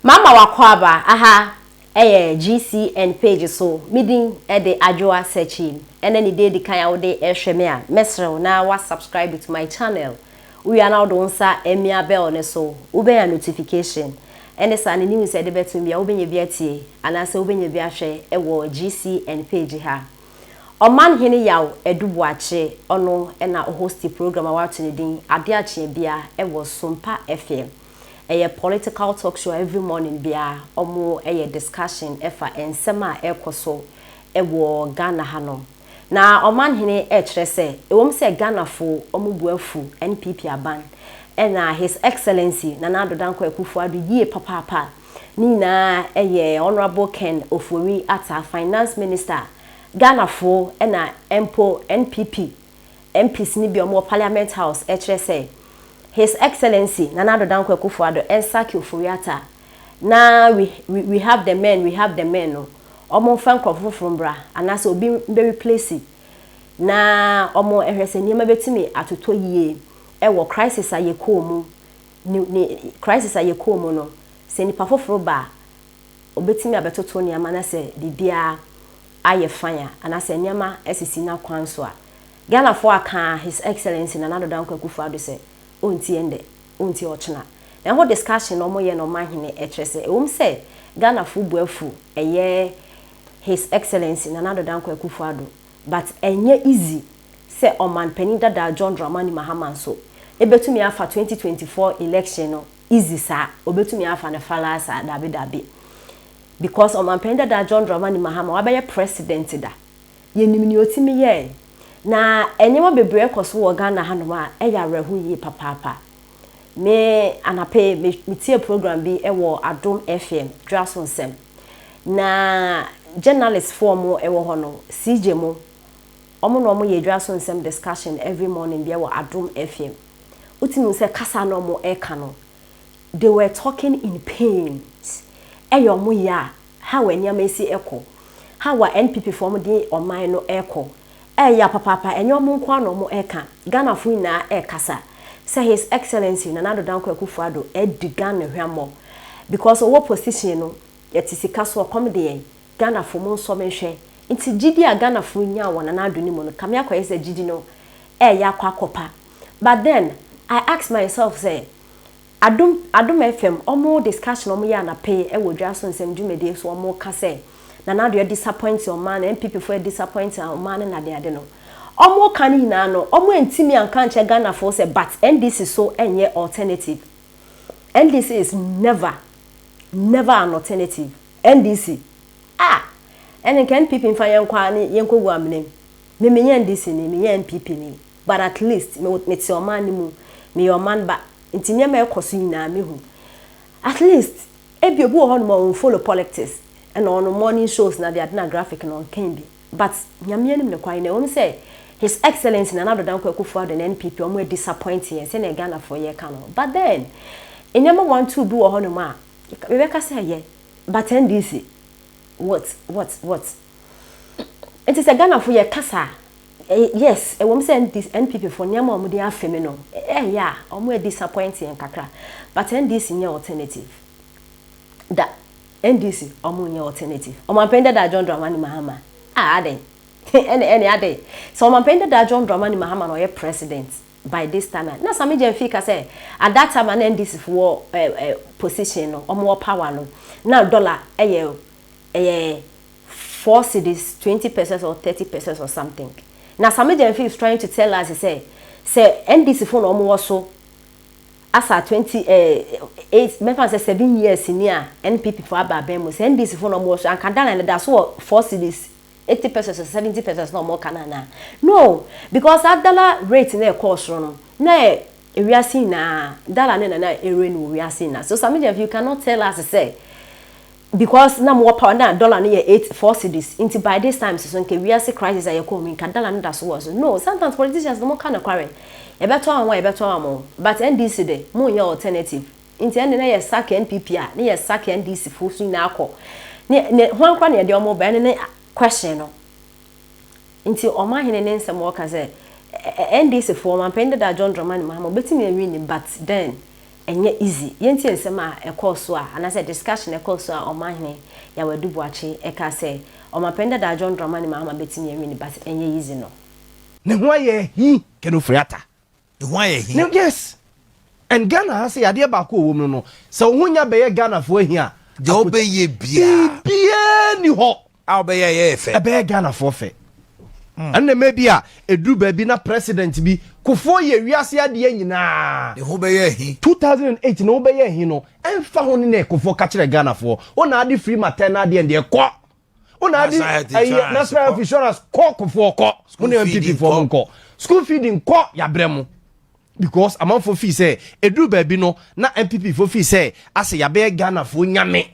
Mama w'akwaaba aha ɛyɛ GCN page so, me din ɛde Adwoa Searching ɛna ne din edi kan a wode ɛrehwɛ me a, mɛsrɛ wo na wa subscribe to my channel, wowie a na wode wo nsa ɛmia bell no so, wobɛnya notification ɛne saa ne news a ɛde bɛto bia wobɛnya bi atie anaasɛ wobɛnya bi ahwɛ ɛwɔ GCN page ha. Ɔman Hene Yaw Adu Boakye ɔno ɛna ɔhosti program a w'ato ne din Adeɛ Akyeɛ Bia ɛwɔ Sumpa FM. Ɛyɛ political talk show a every morning biara wɔyɛ discussion fa nsɛm a ɛrekɔso wɔ Ghana hanom. Na Ɔmanhene rekyerɛ sɛ ɛwom sɛ Ghanafo wɔn bo afu NPP aban na His Excellency Nana Addo Dankwa Akufo Addo yie papaapa a, ne nyinaa yɛ Honourable Ken Ofori-Atta, Finance Minister a, Ghanafo na mpo NPP MPs no bi a wɔwɔ Parliament House kyerɛ sɛ His Excellency Nana Addo Dankwa Akufo-Addo nsake Ofori-Atta na we we we have the men, we have the men no, wɔmfa nkurɔfo foforo mbra anaasɛ obi mbɛreplesi na wɔhwɛ sɛ nneɛma bɛtumi atotɔ yie wɔ crisis a yɛkɔɔ mu ne ne crisis a yɛkɔɔ mu no, sɛ nnipa foforo ba a Obetumi abɛtoto nneɛma na sɛ biribiara ayɛ fine a, anaasɛ nneɛma asisi n'akwan so a. Ghanafoɔ aka His Excellency Nana Addo Dankwa Akufo-Addo sɛ ɔntie ɛnnɛ, ɔntie ɔkyena. Na ɛho discussion a wɔyɛ no ɔmanhene ɛkyerɛ sɛ ɛwom sɛ Ghanafoɔ bu afu ɛyɛ His Excellency Nana Addo Dankwa Akufo-Addo but ɛnyɛ easy sɛ Ɔmanpanin dada John Dramani Mahama nso bɛtumi afa 2024 election no easy saa obetumi afa no falaa saa dabi dabi because ɔmanpanyin dadaa John Dramani Mahama wabɛyɛ president da yɛnim nea otumi yɛɛ na nneɛma bebree ɛkɔ so wɔ Ghana ha nom a ɛyɛ awerɛho yie papaapa me anapa yi me metie program bi ɛwɔ Adom FM dwaso nsɛm na journalist foɔ mo ɛwɔ hɔ no CJ mo wɔn na wɔn yɛ dwaso nsɛm discussion every morning bi ɛwɔ Adom FM. Wotumi hu sɛ kasa na wɔn ɛka no they were talking in pains ɛyɛ wɔn ya a how a nneɛma ɛsi ɛkɔ how a NPP foɔ wɔn de ɔman no ɛkɔ ɛyɛ ya papaapa ɛnyɛ wɔn nko ara na wɔn ɛka Ghana foɔ nyinaa ɛkasa sɛ his excellency Nana Addo Dankwa Akufo Addo ɛdi Ghana hwammɔ because ɔwɔ position no yɛte sika so ɔkɔm de yɛn Ghanafoɔ mo nsɔ me nhwɛ. Nti gyidie a Ghanafoɔ nyaa wɔ Nana Addo no mu no kame akɔyɛ sɛ gyidi no ɛɛyɛ akɔ akɔpa but then I ask myself sɛ Adom Adom FM ɔmo discussion a ɔmo yɛ anapeye ɛwɔ dwa so nsɛm dwumadie so ɔmo ka sɛ Nana Addo adisapɔinte ɔman no NPP foɔ adisapɔinte ɔman no nadeade no ɔmo ka no nyinaa no ɔmo antimi anka ankyerɛ Ghanafoɔ sɛ but NDC so ɛnyɛ alternative NDC is never never an alternative. NDC, Ah! Ɛne nka NPP mfa yɛn nkɔ ara ne yɛnkɔgu amena mu. Me menyɛ NDC ni, menyɛ NPP ni, but at least me wo, mete ɔman no mu, meyɛ ɔman ba, nti nneɛma a ɛkɔ so nyinaa me hu. At least, ebia obi wɔ hɔnom a ɔn follow polictics, ɛna ɔno morning shows na adeade na graphic no ɔnkan bi, but Nyame anim no kwae no, ɛwɔ mu sɛ His Excellency Nana Addo Dankwa Akufo Addo ne NPP ɔmo a disappoint yɛn sɛdeɛ Ghanafoɔ yɛka no, but then, nneɛma one two bi wɔ hɔnom a Mebɛka sɛ yɛ but NDC what what what nti sɛ Ghana fo yɛ kasa a yes ɛwom sɛ NDC NPP fo nneɛma a wɔn de afe me no ɛyɛ a wɔn a disappoint yɛn kakra but NDC nyɛ alternative da NDC wɔn nyɛ alternative Ɔmanpanyin Dadaa John Dramani Mahama ah adɛn ɛne ɛne adɛn sɛ Ɔmanpanyin Dadaa John Dramani Mahama na ɔyɛ president By this time a na Sammy Gyamfi ka sɛ at that time a na NDC fo wɔ position no, wɔn wɔ power no, na dollar yɛ ɛyɛ four cedis, twenty pesos or thirty pesos or something. Na Sammy Gyamfi is trying to tell us sɛ, sɛ NDC fo na wɔn wɔ so as at twenty eight, mɛfa no sɛ seven years ni a NPP fo aba abɛn mu, sɛ NDC fo na wɔn wɔ so a, anka dollar no da so wɔ four cedis, eighty pesos or seventy pesos na wɔka no anaa? No! Because saa dollar rate no a ɛkɔɔ soro no, na ɛyɛ ewiase nyinaa dollar no na na ɛreign wɔ wiase nyinaa. So some of you cannot tell us sɛ because na mowɔ power na dollar no yɛ eight four cedis nti by this time so nka wiase crisis a yɛkɔɔ mu nka dollar no da so wɔ so. No! Sometimes politicians no wɔka nokware. Yɛbɛtɔ wɔn a yɛbɛtɔ wɔn, but NDC de, monyɛ alternative. Nti ɛnde na yɛ sack NPP a ne yɛ sack NDC foɔ so nyinaa kɔ ne ne hwan koraa na yɛde wɔn ba ɛno ne question no nti ɔman hene ne nsɛm ɔka sɛ ɛ NDC foɔ ɔmanpanin dada John Dramani Mahama ɔbɛtumi awin ni but then ɛnyɛ easy yɛntie nsɛm a ɛkɔɔ so a anaasɛ discussion ɛkɔɔ so a ɔman hene Yaw Adu Boakye ɛka sɛ ɔmanpanin dada John Dramani Mahama bɛtumi awin ni but ɛnyɛ easy no. Ne ho ayɛ hi kɛnɛ ofiri ata. Ehu ayɛ he? No yes and Ghana ha sɛ yadeɛ baako ɔwɔ mu no no sɛ wo ho nya bɛyɛ Ghana foɔ he a. Deɛ wo bɛ yɛ biaa. Biribiaa ni hɔ. A wo bɛ yɛ ɛyɛ yɛ fɛ. Ɛbɛyɛ Ghana foɔ fɛ. Ɛno na ɛmɛ bi a ɛduru baabi na president bi kufuo yɛ wiase adeɛ nyinaa. Ne ho bɛ yɛ he. 2008 ne ho bɛ yɛ he no ɛnfa ho ne nɛ kufuo ka kyerɛ Ghana foɔ wo na ade firi maternal deɛ deɛ kɔ. wo na adi ɛyɛ national health insurance kɔ kofoɔ kɔ mo ne npp foɔ mo nkɔ school feeding kɔ yabrɛ mo because amanfoɔ fii sɛ ɛduru baabi no na npp foɔ fii sɛ asɛ yɛabɛyɛ ghanafoɔ nyame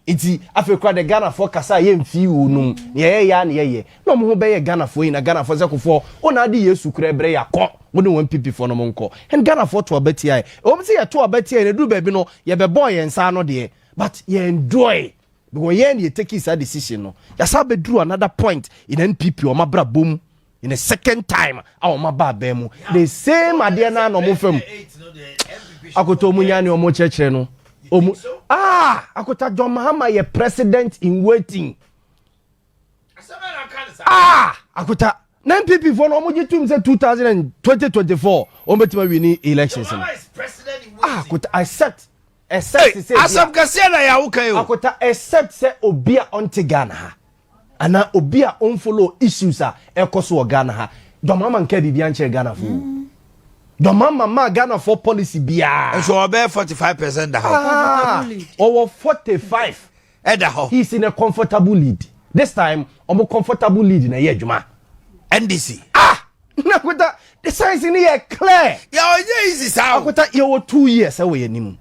nti afei kora de ghanafoɔ kasa a yɛmfii wo nom na yɛyɛ yɛ a na yɛyɛ na ɔmo ho bɛyɛ ghanafoɔ yi na ghanafoɔ sɛ kofoɔ wo na adi yesu kora ɛbrɛ yɛakɔ wo ne wɔn npp foɔ no mo nkɔ ɛn ghanafoɔ to abatiaɛ ɛwɔ m sɛ yɛto abatiaɛ na ɛduru baabi no yɛbɛbɔɔ yɛn nsa ano deɛ but yɛn doɔe But wɔn yɛɛ na yɛ takii saa decision no, yɛasan abɛduru another point in NPP wɔn abrabɔ mu in a second time a wɔn aba abɛn mu. The same adeɛ no ara na wɔn fa mu. Akoto wɔn nya ne wɔn kyerɛkyerɛ no. Wɔn ah Akota John Mahama yɛ president in waiting. ah akuta na npp fo no wɔn gye tum sɛ two thousand and twenty twenty four wɔn bɛtumi awi ni elections no ah akuta except except sɛ bi a asɛm kɛseɛ na yɛawo kan o akuta except sɛ obi a ɔnte ghana ha anaa obi a ɔnfollow issues a ɛkɔ so wɔ ghana ha dɔmama nka biribi ankyerɛ ghana fo dɔmama maa ghana fo policy biara ɛsɛ ɔbɛyɛ forty five percent da ha ɔwɔ forty five. ɛda hɔ. He's in a comfortable lead this time ɔmo comfortable lead na ɛyɛ adwuma. NDC. Ah! Na Akwata, the signs no yɛ clear. Yɛ ɔnyɛ easy saa o. Akwata, yɛwɔ two years ɛwɔ yɛn anim.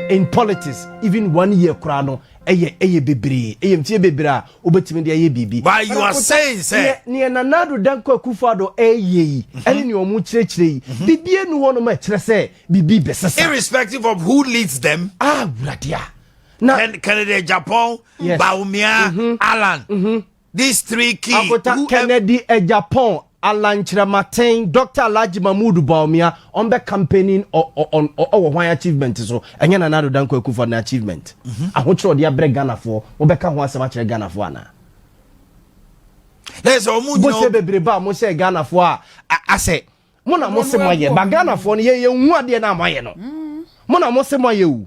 In politics, even one year koraa no ɛyɛ ɛyɛ bebree, ɛyɛ mfie bebree a wobɛtumi de ayɛ biribi. But you are saying sɛ. Neɛ neɛ Nana Addo Dankwa Akufo-Addo ɛreyɛ yi, mhm. ɛne neɛ wɔn kyerɛkyerɛ yi, mhm. biribi enu hɔ nom ɛkyerɛ sɛ biribi bɛsesa. Irrespective of who leads them. Ah, wuradeɛ. na kennedy japan yes. baumia mm -hmm. alan mm -hmm. these three key akota who kennedy e japan alan kyerɛmaten dr alhaji mahmood baumia ɔn bɛ campaigning ɔwɔ hwan achievement so ɛnyɛ nana ado danko akufo na achievement mm -hmm. ahokyerɛ ɔde abrɛ ghanafoɔ wɔbɛka ho asɛm akyerɛ ghanafoɔ anaa lẹsẹ ọmú nyina bó ṣe bèbèrè bá mo ṣe ghana fo a asẹ mo na mo se mo ayẹ ba ghana fo no yẹ yẹ hu adeɛ náà mo ayẹ no mo na mo se mo ayẹ o.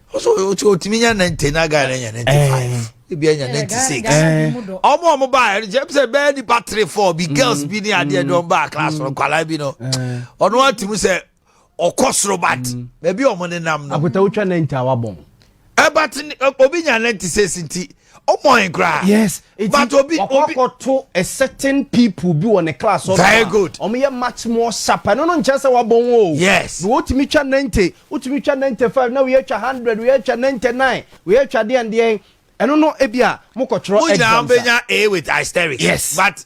so otumi nya ninety na guy na nya ninety five eh. ebi anya eh, ninety six ɔmo eh. ɔmo ba ɛnjɛ sɛ bɛyɛ nipa three four bi mm. girls bi ni adeɛ dɔn ba class no mm. nkwadaa bi no ɔno atumi sɛ ɔkɔ soro bat mm. baabi ɔmo nenam no. akutawotwa ninety awa bɔn. ɛbat obi nya ninety six nti ɔmɔ yɛn koraa. yes but obi obi wakɔ to a certain people bi wɔ ne class ɔno very good ɔmo yɛ much more sharp ɛno no nkyɛn sɛ wabɔ wɔn o yes na wotumi twa ninety wotumi twa ninety five na wei atwa hundred wei atwa ninety nine wei atwa deɛn deɛn ɛno no ebi a mo kɔ twerɛ exams a mo nyinaa bɛ nya a with asterisk yes but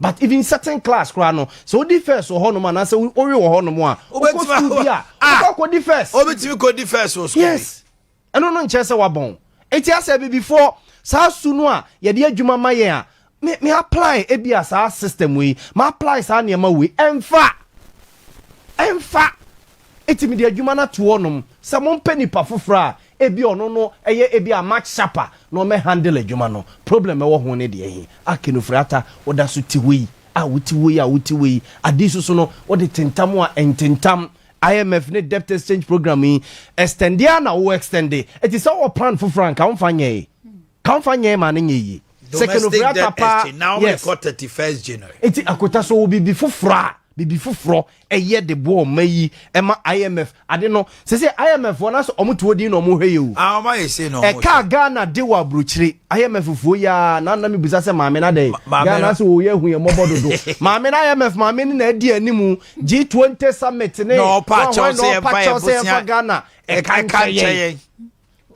but even certain class koraa no sɛ wodi first wɔ hɔnom anaasɛ wowe wɔ hɔnom a wokɔ sukuu bi a ah! wokɔ akɔdi first wobɛtumi kɔdi first wɔ sukuu yes ɛno no nkyerɛ sɛ wabɔn enti asɛ abibifoɔ saa su no a yɛde adwuma ma yɛn a me me apply ebi a saa system wei ma apply saa nneɛma wei ɛmfa ɛmfa Enti mede adwuma no ato hɔnom sɛ mompɛ nipa foforɔ a ebia ɔno no yɛ ebia much sharper na ɔmmɛ handle adwuma no. Problem ɛwɔ ho ne deɛ he? Ah Kenufre Atta, woda so te hɔ yi a wote hɔ yi a wote hɔ yi, ade yi soso no wode tentam a ɛntentam. IMF ne debt exchange programme yi, extend ara na wo extend. Enti sɛ wowɔ plan foforɔ a nka womfa nyɛe. Kamfa nyɛe ma no nyɛ yie. Domestic death exchange, Naomi yes. kɔ thirty first January. Eti akota so wɔ biribi foforɔ a biribi foforɔ ɛyɛ de boɔ ɔma yi ɛma IMF ade no sese IMF fɔ n'asɛ ɔmo tuo din na ɔmo hwɛ yɛ o. Ah ɔmo ayɛ sei na ɔmo. Ɛka Ghana de wɔ aburokyire IMF fuo yaa na na mi busa sɛ maame na dɛ. Ghana asɛ o yɛ hu yɛ mɔbɔ dodo. Maame na IMF maame ne na adi animu G20 summit ne. Na ɔpa kyɛw sɛ yɛn fa yɛn bosia. Ghana ɛka nkyɛn yɛn.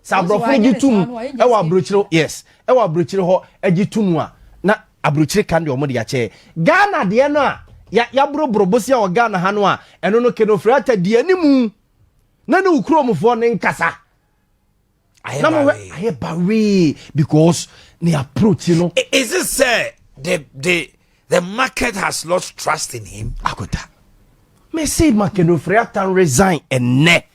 sɛ aborɔfo no gye tom ɛwɔ aburokyire yes ɛwɔ aburokyire hɔ ɛgye tom a na aburokyire kan deɛ wɔn de akyɛ ghana deɛ no a yaboroboro bosia wɔ ghana ha no a ɛno no kenofre ata di animu na ne okuromfoɔ ne nkasa na mo hɛ ayɛ bawee because ne approach no. is it sɛ the the the market has lost trust in him. akota me say makenofre ata resign ɛnɛ.